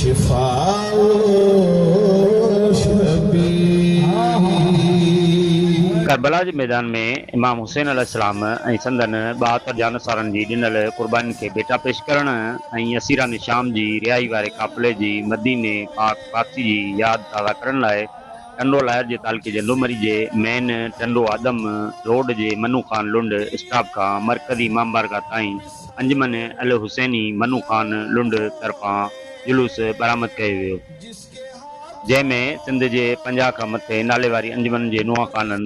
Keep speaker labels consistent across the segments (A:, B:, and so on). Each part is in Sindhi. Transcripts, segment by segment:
A: شفاء الشبيب. ڪربلا جي ميدان ۾ امام حسين عليه السلام ۽ سندن ٻهاتر جانثارن جي ڏنل قربانين کي ڀيٽا پيش ڪرڻ ۽ اسيران شام جي رهائي واري قافلي جي مديني پاڪ واپسي جي ياد تازه ڪرڻ لاء ٽنڊو لاهر جي تعلقي جي لومڙي جي مين ٽنڊو آدم روڊ جي منو خان لنڊ اسٽاپ کان مرڪزي امام بارگاهه تائين انجمن الحسيني منو خان لنڊ طرفان جلوس برآمد ڪيو ويو جنهن ۾ سنڌ جي پنجاهه کان مٿي ناليواري انجمن جي نوحاخانن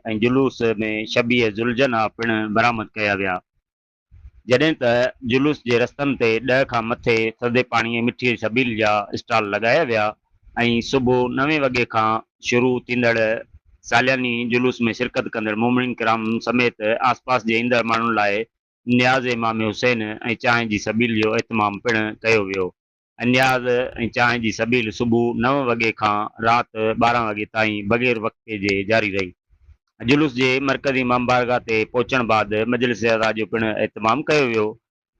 A: ۽ جلوس ۾ شبيه ذوالجناح پڻ برآمد ڪيا ويا. جڏهن ته جلوس جي رستن تي ڏهه کان مٿي ٿڌي پاڻي ۽ مٺي سبيل جا اسٽال لڳايا ويا ۽ صبح نوين وڳي کان شروع ٿيندڙ سالياني جلوس ۾ شرڪت ڪندڙ مومنين ڪرام سميت آسپاس جي ايندڙ ماڻهن لاء نياز امام حسين ۽ چانهه جي سبيل جو اهتمام پڻ ڪيو ويو. انياز ۽ چانهه جي سبيل صبح نو وڳي کان رات ٻارهن وڳي تائين بغير وقفي جي جاري رهي. جلوس جي مرڪزي امام بارگاهه تي پهچڻ بعد مجلس عزا جو پڻ اهتمام ڪيو ويو،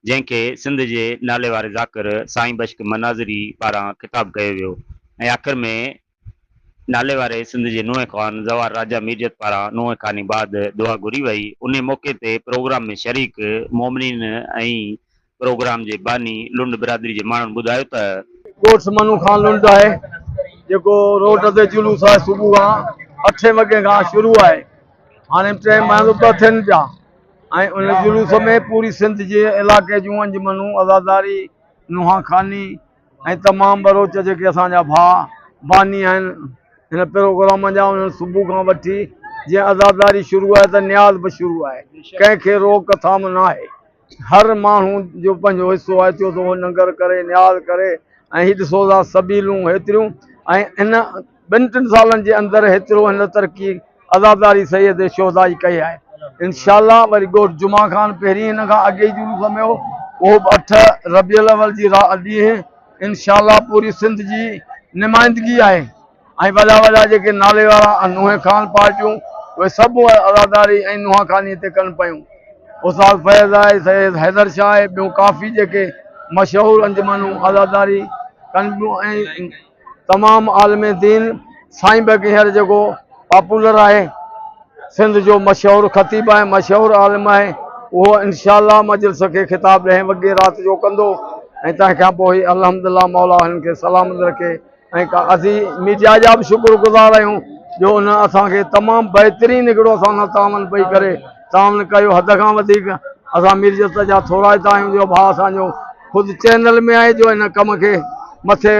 A: جنهن کي سنڌ جي ناليواري ذاڪر سائين بشڪ مناظري پاران خطاب ڪيو ويو ۽ آخر ۾ ناليواري سنڌ جي نونهن خوان زوار راجا ميرجت پاران نونهن خواني بعد دعا گهري وئي، انهي موقعي تي پروگرام ۾ شريڪ مومنين ۽ پروگرام جي باني لنڊ برادري جي ماڻهن ٻڌايو ته. ڳوٺ سمنو
B: خان لنڊ آهي جيڪو روڊ تي جلوس آهي صبح کان اٺين وڳي کان شروع آهي هاڻي ٽي مهل ٻه ٿين پيا ۽ ان جلوس ۾ پوري سنڌ جي علائقي جون انجمنون عزاداري نونهان خواني ۽ تمام ٻروچ جيڪي اسان جا ڀاء باني آهن هن پروگرام جا انهن صبح کان وٺي جيئن عزاداري شروع آهي ته نياز به شروع آهي ڪنهن کي روڪ ٿام ناهي هر ماڻهو جو پنهنجو حصو آهي ٿيو ته اهو ننگر ڪري نياز ڪري ۽ هي ڏسو ٿا سبيلون هيتريون ۽ ان ٻن ٽن سالن جي اندر هيترو هن ترقي عزاداري سيد شهدا جي ڪئي آهي انشاء الله وري ڳوٺ جمعه خان پهرين هن کان اڳي جلوس ۾ هو اهو به اٺ ربيع الاول جي را ڏينهن انشاء الله پوري سنڌ جي نمائندگي آهي ۽ وڏا وڏا جيڪي نالي وارا نوحي خان پارٽيون اهي سڀ عزاداري ۽ نوحا خاني تي ڪن پيون استاد فيض آهي سيد حيدر شاهه آهي ٻيون ڪافي جيڪي مشهور انجمنون عزاداري ڪن پيون ۽ تمام عالم دين سائين بيگ هينئر جيڪو پاپولر آهي سنڌ جو مشهور خطيب آهي مشهور عالم آهي اهو انشاء الله مجلس کي خطاب ڏهين وڳي رات جو ڪندو ۽ تنهن کان پوء الحمدلله مولا هن کي سلامت رکي ۽ کا اسين ميڊيا جا به شڪر گذار آهيون جو ان اسان کي تمام بهترين هڪڙو اسان سان تعاون پئي ڪري تان هن ڪيو حد کان وڌيڪ اسان مير جسٽس جا ٿورائتا آهيون جو ڀاء اسان جو خود چينل ۾ آهي جو هن ڪم کي مٿي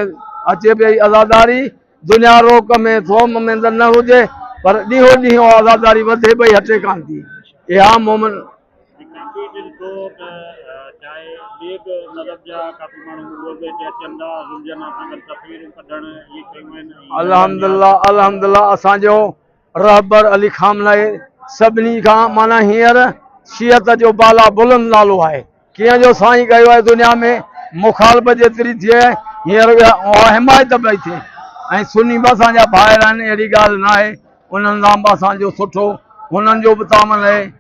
B: اچي پئي عزاداري دنيا روڪ ۾ ٿوم ۾ ته نه هجي پر ڏينهون ڏينهن اها عزاداري وڌي پئي هٽي ڪانه ٿي اها مومن الحمدلله الحمدلله اسان جو رهبر علي خامنهي سڀني کان معنيٰ هينئر شيعت جو بالا بلند نالو آهي. ڪيئن جو سائين ڪيو آهي دنيا ۾ مخالفت جيتري ٿئي هينئر اها حمايت پئي ٿئي ۽ سني به اسان جا ڀائر آهن اهڙي ڳالهه ناهي انهن سان به اسان جو سٺو هنن جو به تعاون رهي.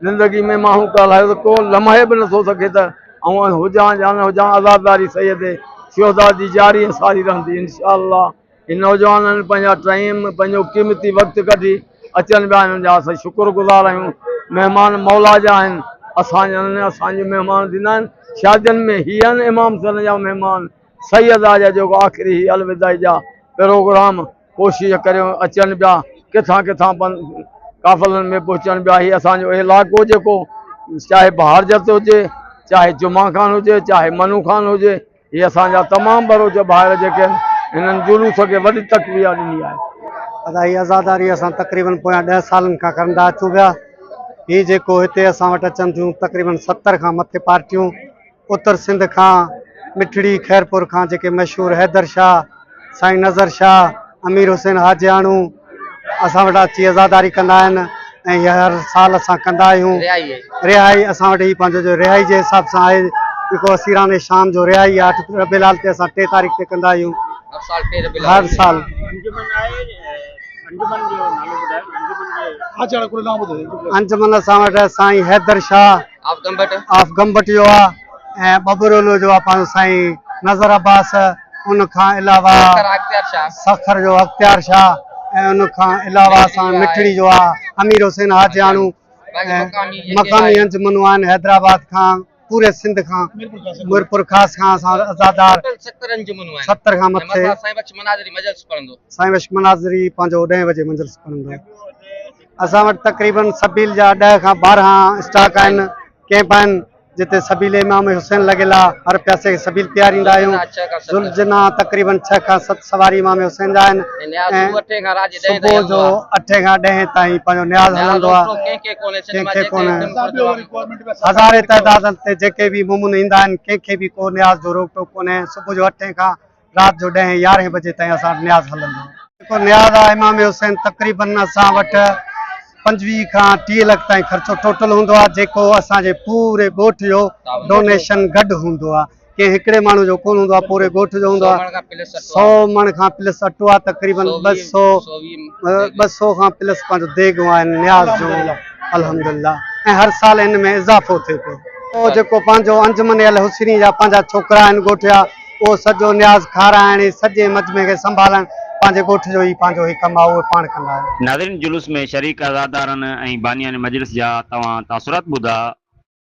B: زندگي ۾ مان هو ڪالهايو ته ڪو لمحي به نه ٿو سگهي ته آئون هجان يا نه هجان عزاداري سيد شهداء جي جاري ۽ ساري رهندي انشاء الله هي نوجوانن پنهنجا ٽئيم پنهنجو قيمتي وقت ڪڍي اچن پيا انهن جا اسين شڪر گذار آهيون مهمان مولا جا آهن اسان جا نه اسان جي مهمان ٿيندا آهن شادين ۾ هي آهن امام سن جا مهمان سيد آ جا جيڪو آخري هي الوداعي جا پروگرام ڪوشش ڪريون اچن پيا ڪٿان ڪٿان قافلن ۾ پهچن پيا هي اسان جو علائقو جيڪو چاهي بهارجت هجي چاهي جمعا خان هجي چاهي منو خان هجي هي اسان جا تمام بروچ ڀائر جيڪي هنن جلوس کي وڏي تقويه ڏني آهي ادا هي
C: عزاداري اسان تقريبن پويان 10 سالن کان ڪرندا اچون پيا هي جيڪو هتي اسان وٽ اچن ٿيون تقريبن 70 کان مٿي پارٽيون اتر سنڌ کان مٺڙي خيرپور کان جيڪي مشهور حيدر شاهه، سائين نظر شاهه، امير حسين حاجياڻو اسان وٽ اچي عزاداري ڪندا آهن ۽ اها هر سال اسان ڪندا آهيون. رهائي اسان وٽ هي پنهنجو جو رهائي جي حساب سان آهي جيڪو اسيران شام جو رهائي آهي اٺ ربيع الاول تي اسان ٽي تاريخ تي ڪندا آهيون. هر سال. انجمن اسان وٽ سائين حيدر شاهه. آف گمبٽ جو آ ۽ ٻٻرولو جو آ پنهنجو سائين نظر عباس ان کان علاوه سکر جو اختيار شاھ ۽ ان کان علاوه اسان مٺڙي جو آ امير حسين حاجياڻو مقامي انجمنون آهن حيدرآباد کان پوري سنڌ کان ميرپور خاص کان اسان عزادار ستر کان مٿي سائين بخش مناظري پنهنجو ڏهين بجي مجلس پڙهندو اسان وٽ تقريبن سبيل جا ڏهه کان ٻارهن اسٽاڪ آهن ڪيمپ آهن جتي سبيل امام حسين لڳل آهي هر پياسي کي سبيل پياريندا آهيون ذوالجنا تقريبن ڇهه کان ست سواري امام حسين جا آهن صبح جو اٺين کان ڏهين تائين پنهنجو نياز هلندو آهي ڪنهن کي ڪونه هزارين تعداد تي جيڪي به مومن ايندا آهن ڪنهن کي به ڪو نياز جو روڪ ٽوڪ ڪونهي صبح جو اٺين کان رات جو ڏهين يارهين بجي تائين اسان وٽ نياز هلندو هو. جيڪو نياز آ امام حسين تقريباً اسان وٽ پنجويهه کان ٽيهه لک تائين خرچو ٽوٽل هوندو آ جيڪو اسان جي پوري ڳوٺ جو ڊونيشن گڏ هوندو آ ڪنهن هڪڙي ماڻهو جو ڪونه هوندو آ پوري ڳوٺ جو هوندو آ سو مڻ کان پلس اٽو آ تقريباً ٻه سو ٻه سو کان پلس پنهنجو ديڳون آهن نياز جون الحمدالله ۽ هر سال ان ۾ اضافو ٿئي پيو جيڪو پنهنجو انجمن الحسني جا پنهنجا ڇوڪرا آهن ڳوٺيا. اهو سڄو نياز کارائڻ ۽ سڄي مجمعي کي سنڀالڻ پنهنجي ڳوٺ جو ئي پنهنجو هي ڪم آهي، اهي پاڻ ڪندا آهن. ناظرين جلوس ۾ شريڪ
A: عزادارن ۽ بانيان مجلس جا توهان تاثرات ٻڌا،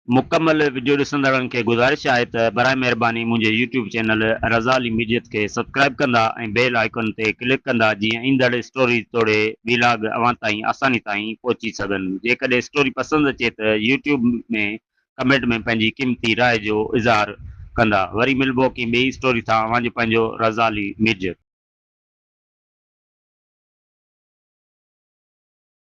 A: مڪمل وڊيو ڏسندڙن کي گذارش آهي ته برائي مهرباني منهنجي يوٽيوب چينل رضا علي ميڊيت کي سبسڪرائب ڪندا ۽ بيل آئيڪن تي ڪلڪ ڪندا جيئن ايندڙ اسٽوريز توڙي ويلاگ اوهان تائين آساني تائين پهچي سگهن جيڪڏهن اسٽوري پسند اچي ته يوٽيوب ۾ ڪمينٽ ۾ پنهنجي قيمتي راء جو اظهار ڪندا وري ملبو ڪنهن ٻئي اسٽوري تھان اوهان جو پنهنجو رضا علي ميرجت.